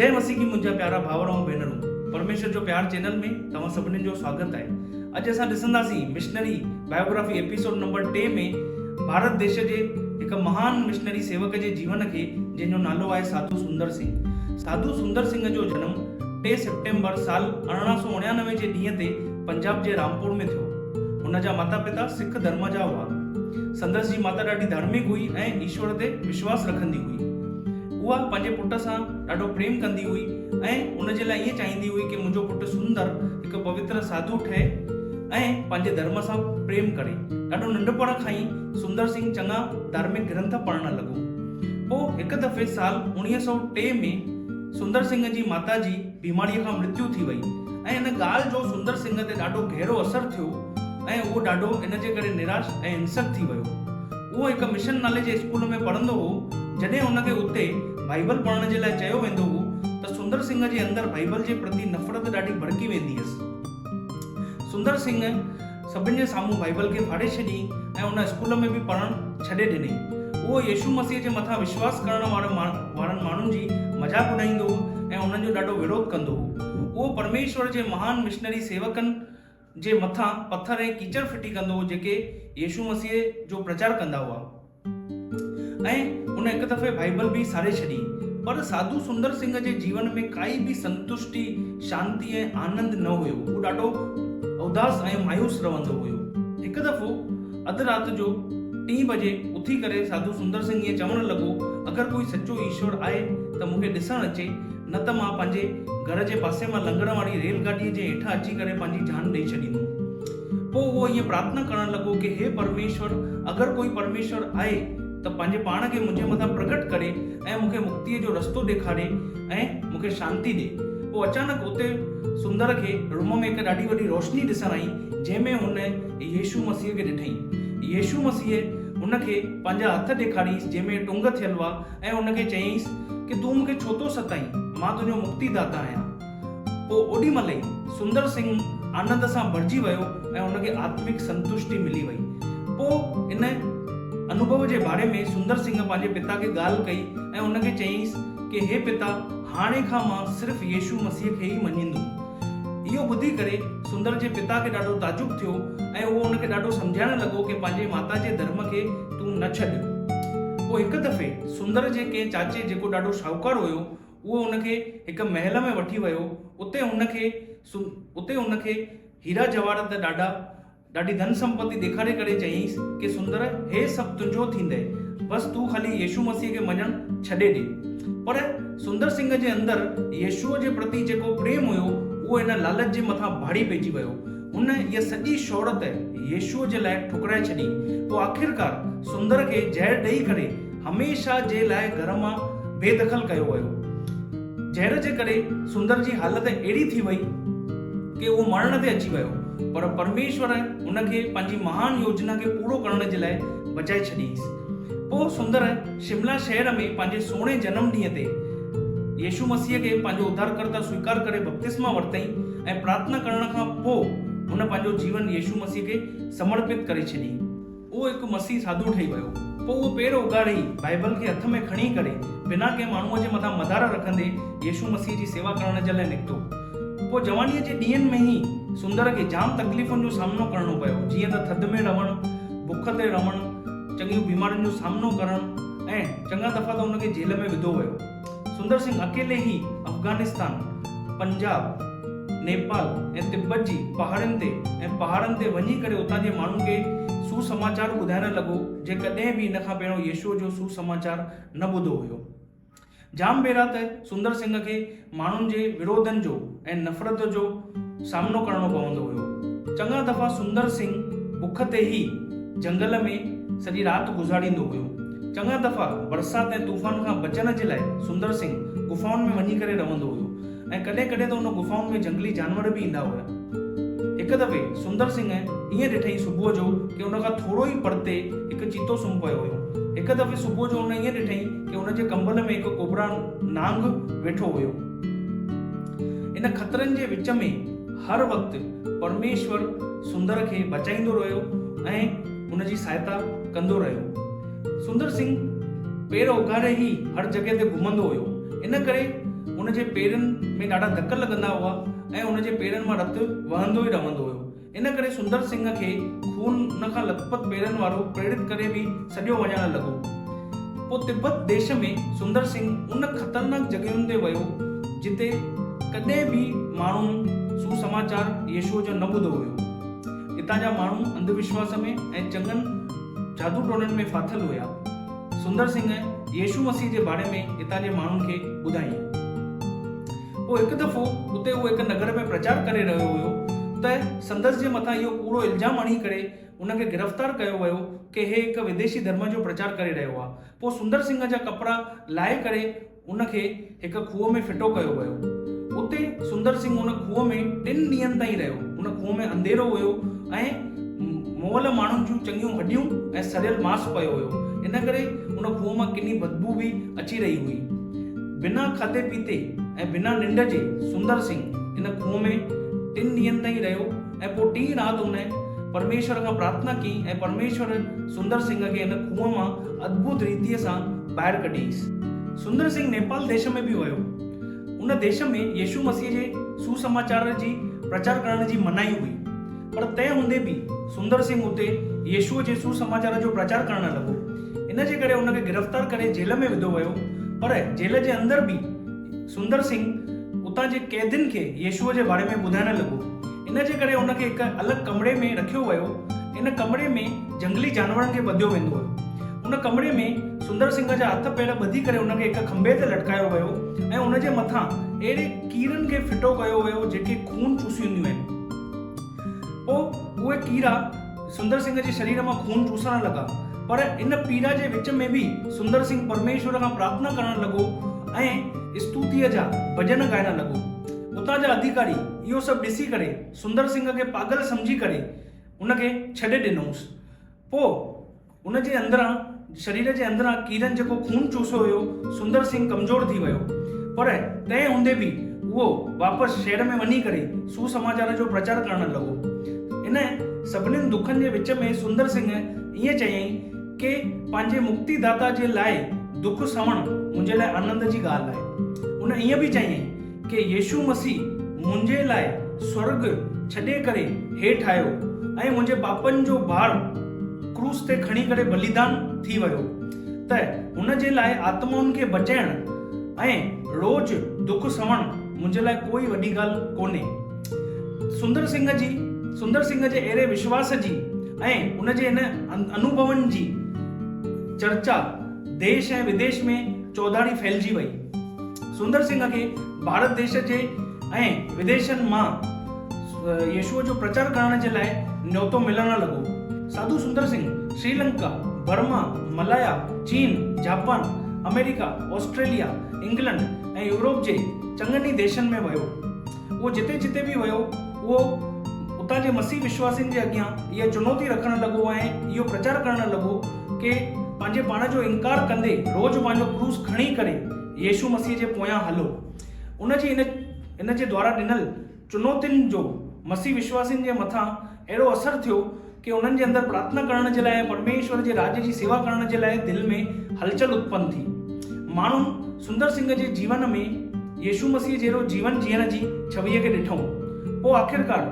جئي مسيح ڪي منهنجا پيارا ڀائر ۽ ڀينرون پرميشور جو پيار چينل ۾ توهان سڀني جو سواگت آهي اڄ اسان ڏسنداسين مشنري بائيوگرافي ايپيسوڊ نمبر ٽي ۾ ڀارت ديش جي هڪ مهان مشنري سيوڪ جي جيون کي جنهن جو نالو آهي ساڌو سندر سنگهه ساڌو سندر سنگهه جو جنم ٽي سيپٽمبر سال ارڙهن سو اڻيانوي جي ڏينهن تي پنجاب جي رامپور ۾ ٿيو. هن جا ماتا پتا سک ڌرم جا هئا. سندس جي ماتا ڏاڍي ڌارمڪ هئي ۽ ايشور تي وشواس رکندي هئي. اها پنهنجي پٽ سان ڏاڍو پريم ڪندي هئي ۽ ان جي لاء ائين چاهيندي هئي ڪي منهنجو پٽ سندر هڪ پوتر ساڌو ٺهي ۽ پنهنجي ڌرم سان پريم ڪري. ڏاڍو ننڍپڻ کان ئي سندر سنگهه چڱا ڌارمڪ گرنٿ پڙهڻ لڳو. پوء هڪ دفعي سال اوڻيهه سؤ ٽي ۾ سندر سنگهه جي ماتا جي. بيماريء کان مرتيو ٿي وئي ۽ ان ڳالهه جو سندر سنگهه تي ڏاڍو گهرو اثر ٿيو ۽ اهو ڏاڍو ان جي ڪري نراش ۽ هنسڪ ٿي ويو. اهو هڪ مشن نالي جي اسڪول ۾ پڙهندو هو، جڏهن ان کي اتي بائيبل پڙهڻ جي لاء چيو ويندو هو ته سندر سنگهه جي اندر بائيبل جي پرتي نفرت ڏاڍي ڀڙڪي ويندي هيس. سندر سنگهه. سڀني جي سامهون بائيبل کي ڦاڙي ڇڏيائين ۽ ان اسڪول ۾ به پڙهڻ ڇڏي ڏنائين. اهو يسوع مسيح جي مٿان وشواس ڪرڻ وارن ماڻهن جي مذاق اڏائيندو هو ۽ انهن جو ڏاڍو وروڌ ڪندو هو. اهو پرميشور جي مهان مشنري سيوڪن جي مٿان پٿر ۽ ڪيچڙ ڦٽي ڪندو هو جيڪي يسوع مسيح جو پرچار ڪندا هئا. ۽ ان هڪ دفعي بائيبل به ساڙي ڇڏي. پر ساڌو سندر سنگهه جي جيون ۾ ڪائي به سنتشٽي، شانتي ۽ آنند نه هيو. هو ڏاڍو اداس ۽ مايوس رهندو هيو. هڪ دفعو اڌ رات جو ٽين بجي اٿي ڪري ساڌو سندر سنگهه ائين چوڻ لڳو، اگر ڪوئي سچو ايشور آهي ته مون کي ڏسڻ اچي، نه ته مان پنهنجي گهر جي پاسي مان لنگهڻ واري ريل گاڏيء جي هيٺان اچي ڪري پنهنجي جان ڏئي ڇڏيندوم. پوء هو ائين پرارٿنا ڪرڻ لڳو ڪي هي پرميشور اگر ڪوئي پرميشور آهي ته پنهنجي پاڻ کي منهنجي مٿان پرگهٽ ڪري ۽ مون کي مڪتيء جو رستو ڏيکاري ۽ مون کي شانتي ڏي. پوء اچانڪ اتي سندر کي روم ۾ هڪ ڏاڍي وڏي روشني ڏسڻ آئي جنهن ۾ هن يسوع مسيح کي ڏٺائين. يسوع مسيح هن کي پنهنجا هٿ ڏيکارينس جنهن ۾ ٽنگ ٿيل هئا ۽ هن کي چيائينس ڪي تون مون کي ڇو ٿو ستائين مان تنهنجو مڪتي داتا آهيان. پوء اوڏي مھل ئي سندر سنگھ آنند سان ڀرجي ويو ۽ ھن کي آتمڪ سنتشٽي ملي وئي. پوء ان انوڀو جي باري ۾ سندر سنگھ پنھنجي پتا کي ڳالھه ڪئي ۽ ان کي چيائينس ڪي ھي پتا ھاڻي کان مان صرف يسوع مسيح کي ئي مڃيندوم. اھو ٻڌي ڪري سندر جي پتا کي ڏاڍو تعجب ٿيو ۽ اھو ان کي ڏاڍو سمجھائڻ لڳو ڪي پنھنجي ماتا جي ڌرم کي تون نه ڇڏ. پوء ھڪ دفعي سندر جي ڪنھن چاچي جيڪو ڏاڍو شاھوڪار ھيو اهو هن کي هڪ محل ۾ وٺي ويو، اتي هن کي اتي هن کي هيرا جواهرات ۽ ڏاڍا ڏاڍي ڌن سمپتي ڏيکاري ڪري چيائينس ڪي سندر هي سڀ تنهنجو ٿيندئي، بس تون خالي يسوع مسيح کي مڃڻ ڇڏي ڏي. پر سندر سنگهه جي اندر يسوع جي پرتي جيڪو پريم هيو، اهو هن لالچ جي مٿان ڀاڙي پئجي ويو. هن اها سڄي شهرت يسوع جي لاء ٺڪرائي ڇڏي. پوء آخرڪار سندر کي زهر ڏئي ڪري هميشه جي لاء گهر مان بي دخل ڪيو ويو. زهر جي ڪري سندر جي حالت اهڙي ٿي وئي ڪي اهو مرڻ تي اچي ويو پر پرميشور هن کي پنهنجي مهان يوجنا کي پورو ڪرڻ جي لاء بچائي ڇڏيس. پوء سندر، شملا شهر ۾ پنهنجي سهڻي جنم ڏينهن تي يسوع مسيح کي پنهنجو اڌارڪرتا سويڪار ڪري بپتسما ورتئين ۽ پرارٿنا ڪرڻ کان پوء هن پنهنجو جيون يسوع مسيح کي سمرپت ڪري ڇڏي. هو هڪ مسيح ساڌو ٺهي ويو. پوء هو پير اوگاڙي بائبل کي هٿ ۾ کڻي ڪري بنا ڪنهن ماڻهوء جي مٿان مدار رکندي يسوع مسيح جي سيوا ڪرڻ جي لاء نڪتو. پوء جوانيء جي ڏينهن ۾ ئي سندر کي جام تڪليفن جو سامنو ڪرڻو پيو جيئن ته ٿڌ ۾ رهڻ، بک تي رهڻ، چڱيون بيمارين جو سامنو ڪرڻ ۽ چڱا دفعا ته ان کي جيل ۾ وڌو ويو. سندر سنگهه اڪيلي ئي افغانستان، پنجاب، نيپال ۽ تبت جي پهاڙين تي ۽ پهاڙن تي وڃي ڪري اتان جي ماڻهن کي سوسماچار ٻڌائڻ لڳو، جي ڪڏهن به ان کان پهريون يسوع جو سوسماچار نه ٻڌو هيو. جام ڀيرا ته سندر سنگهه کي ماڻهن جي وروڌن جو ۽ نفرت جو سامنو ڪرڻو پوندو هيو. چڱا دفعا سندر سنگهه بک تي ئي جهنگل ۾ سڄي رات گذاريندو هيو. چڱا دفعا برسات ۽ طوفان کان بچڻ جي لاء سندر سنگهه غفائن ۾ وڃي ڪري رهندو هيو. ۽ ڪڏهن ڪڏهن ته ان غفائن ۾ جهنگلي جانور به ايندا هيا. هڪ دفعي سندر سنگهه ائين ڏٺئين صبح جو ڪي ان کان ٿورو ئي پرتي هڪ چيتو سمهه پيو هيو. هڪ دفعي صبح جو ان ائين ڏٺئين ڪي ان جي ڪنبل ۾ هڪ ڪوبرا، نانگ، ويٺو هيو. ان خطرن جي وچ ۾ هر وقت پرميشور سندر کي بچائيندو رهيو ۽ ان جي سهائتا ڪندو رهيو. سندر سنگهه پير اوگهاري ئي هر جڳهه تي گهمندو هيو، ان ڪري هن جي پيرن ۾ ڏاڍا ڌڪ لڳندا هئا ۽ هن جي پيرن مان رت وهندو ئي رهندو هيو. ان ڪري سندر سنگهه کي خون ان کان لٿپٿ پيرن وارو پريڙت ڪري به سڏيو وڃڻ لڳو. پوء تبت ديش ۾ سندر سنگهه ان خطرناڪ جڳهين تي ويو، جتي ڪڏهن به ماڻهن سوسماچار يسوع جو نه ٻڌو هيو. اتان جا ماڻهو انڌوشواس ۾ ۽ چڱن. جادو ٽوڻن ۾ ڦاٿل هيا. سندر سنگهه يسوع مسيح جي باري ۾ اتان جي ماڻهن کي ٻڌايائين. پوء هڪ دفعو اتي هو هڪ نگر ۾ پرچار ڪري رهيو هيو ته سندس جي مٿان اهو ڪوڙو الزام هڻي ڪري هن کي گرفتار ڪيو ويو ڪه هي هڪ وديشي ڌرم جو پرچار ڪري رهيو آهي. پوء سندر سنگهه جا ڪپڙا لاهي ڪري ان کي هڪ کوهه ۾ ڦٽو ڪيو ويو. اتي سندر سنگهه ان کوهه ۾ ٽن ڏينهن تائين رهيو. ان کوهه ۾ انڌيرو هيو ۽ مئل ماڻهن جون چڱيون هڏيون ۽ سڙيل ماس پيو هيو. ان ڪري ان کوهه مان ڪني بدبوء به اچي رهي هئي. بنا کاڌي پيتي ۽ بنا ننڊ جي سندر سنگهه ان کوهه ۾ ٽن ڏينهن تائين رهيو. ۽ پوء ٽينهن رات هن پرميشور کان پرارٿنا ڪئي ۽ پرميشور سندر سنگهه کي هن کوهه مان ادڀت ريتيء سان ٻاهر ڪڍيس. سندر سنگهه نيپال ديش ۾ به ويو. ان ديش ۾ يسوع مسيح جي سوسماچار جي پرچار ڪرڻ جي منائي هئي. پر تنهن هوندي به سندر سنگهه اتي يسوع جي سوسماچار جو پرچار ڪرڻ لڳو. ان جي ڪري هن کي گرفتار ڪري جيل ۾ وڌو ويو. پر جيل جي اندر به. سندر سنگهه اتان جي قيدين کي يسوع جي باري ۾ ٻڌائڻ لڳو. ان جي ڪري هن کي هڪ الڳ ڪمري ۾ رکيو ويو. ان ڪمري ۾ جهنگلي جانورن کي ٻڌيو ويندو هيو. ان ڪمري ۾ سندر سنگهه جا هٿ پير ٻڌي ڪري هن کي هڪ کنڀي تي لٽڪايو ويو ۽ ان جي مٿان اهڙي ڪيرن کي ڦٽو ڪيو ويو جيڪي خون چوسينديون آهن. پوء اهي ڪيرا سندر سنگهه جي شرير مان خون چوسڻ لڳا، پر ان پيڙا جي وچ ۾ به سندر سنگهه پرميشور کان پرارٿنا ڪرڻ لڳو ۽ استوتيء جا ڀڄن ڳائڻ لڳو. اتان جا اڌيڪاري اهو سڀ ڏسي ڪري سندر سنگهه کي پاڳل سمجهي ڪري ان کي ڇڏي ڏنوس. پوء. هن جي اندران شرير جي اندران ڪيرن جيڪو خون چوسيو هيو سندر سنگهه ڪمزور ٿي ويو پر تنهن هوندي به اهو واپس شهر ۾ وڃي ڪري سوسماچار جو پرچار ڪرڻ لڳو ان سڀنين دکن جي وچ ۾ سندر سنگهه ائين چيائين ڪي پنهنجي مڪتي داتا جي لاء دک سهڻ منهنجي لاء آنند جي ڳالهه آهي هن ائين به چيائين ڪي يسوع مسيح منهنجي لاء سورڳ ڇڏي ڪري هيٺ آيو ۽ منهنجي پاپن جو بار ڪروس تي کڻي ڪري بليدان ٿي ويو ته هن جي لاء آتمائن کي بچائڻ ۽ روز دک سهڻ منهنجي لاء ڪوئي وڏي ڳالهه ڪونهي. سندر سنگهه جي سندر سنگهه جي اهڙي وشواس جي ۽ ان جي ان انوڀون جي چرچا ديش ۽ وديش ۾ چوڌاري ڦهلجي وئي. سندر سنگهه کي ڀارت ديش جي ۽ وديشن مان يسوع جو پرچار ڪرڻ جي لاء نيوتو ملڻ لڳو. ساڌو سندر سنگهه سريلنڪا، برما، ملايا، چين، جاپان، آمريڪا، آسٽريليا، انگلنڊ ۽ يورپ جي چڱن ئي ديشن ۾ ويو. اهو جتي جتي به ويو اهو اتان جي مسيح وشواسين جي اڳيان اها چنوتي رکڻ لڳو ۽ اهو پرچار ڪرڻ لڳو ڪي پنهنجي پاڻ جو انڪار ڪندي روز پنهنجو ڪروس کڻي ڪري يسوع مسيح جي پويان هلو. ان جي ان ان جي دوارا ڏنل چنوتين جو مسيح وشواسين جي مٿان اهڙو اثر ٿيو کي انهن جي اندر پرارٿنا ڪرڻ جي لاء ۽ پرميشور جي راڄ جي سيوا ڪرڻ جي لاء دل ۾ هلچل اتپن ٿي. ماڻهن سندر سنگهه جي جيون ۾ يسوع مسيح جهڙو جيون جيئڻ جي ڇويء کي ڏٺائون. پوء آخرڪار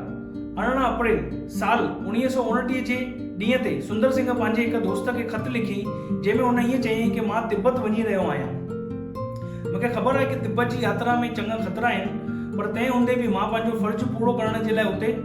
ارڙهن اپريل سال اوڻيهه سؤ اوڻٽيهه جي ڏينهن تي سندر سنگهه پنهنجي هڪ دوست کي خط لکيائين جنهن ۾ هن ائين چيائين ڪي مان تبت وڃي رهيو آهيان. مون کي خبر آهي ڪي تبت جي ياترا ۾ چڱا خطرا آهن پر تنهن هوندي به مان پنهنجو فرض پورو ڪرڻ جي لاء اتي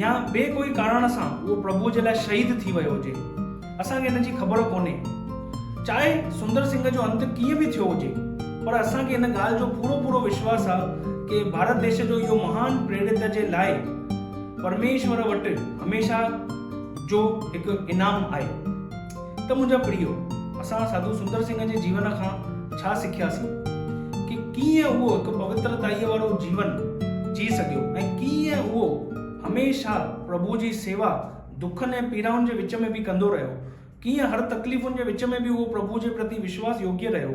يا ٻئي ڪوئي ڪاراڻ سان اهو پرڀوء جي لاء شهيد ٿي ويو هجي، اسان کي ان جي خبر ڪونهي. چاهي سندر سنگهه جو انت ڪيئن به ٿيو هجي، پر اسان کي ان ڳالهه جو پورو پورو وشواس آ ڪي ڀارت ديش جو اهو مهان پريڙت جي لاء پرميشور وٽ هميشه جو هڪ انعام آهي. ته منهنجا پريو، اسان ساڌو سندر سنگهه جي جيون کان ڇا سکياسين؟ ڪي ڪيئن اهو هڪ پوترتائيء وارو جيون جي سگهيو ۽ ڪيئن اهو هميشه پرڀوء جي سيوا، دکن ۽ پيڙائن جي وچ ۾ به ڪندو رهيو؟ ڪيئن هر تڪليفن جي وچ ۾ به اهو پرڀوء جي پرتي وشواس يوگيه رهيو؟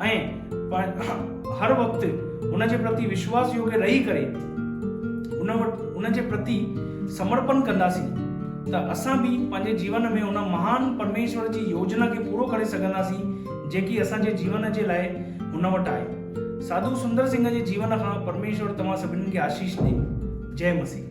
۽ هر وقت هن جي پرتي وشواس يوگي رهي ڪري هن وٽ هن جي پرتي سمرپن ڪنداسين ته اسان به پنهنجي جيون ۾ هن مهان پرميشور جي يوجنا کي پورو ڪري سگهنداسين جيڪي اسان جي جيون جي لاء هن وٽ آهي ساڌو سندر سنگهه جي جيون کان پرميشور توهان سڀني کي آشيش ڏي جئي مسيح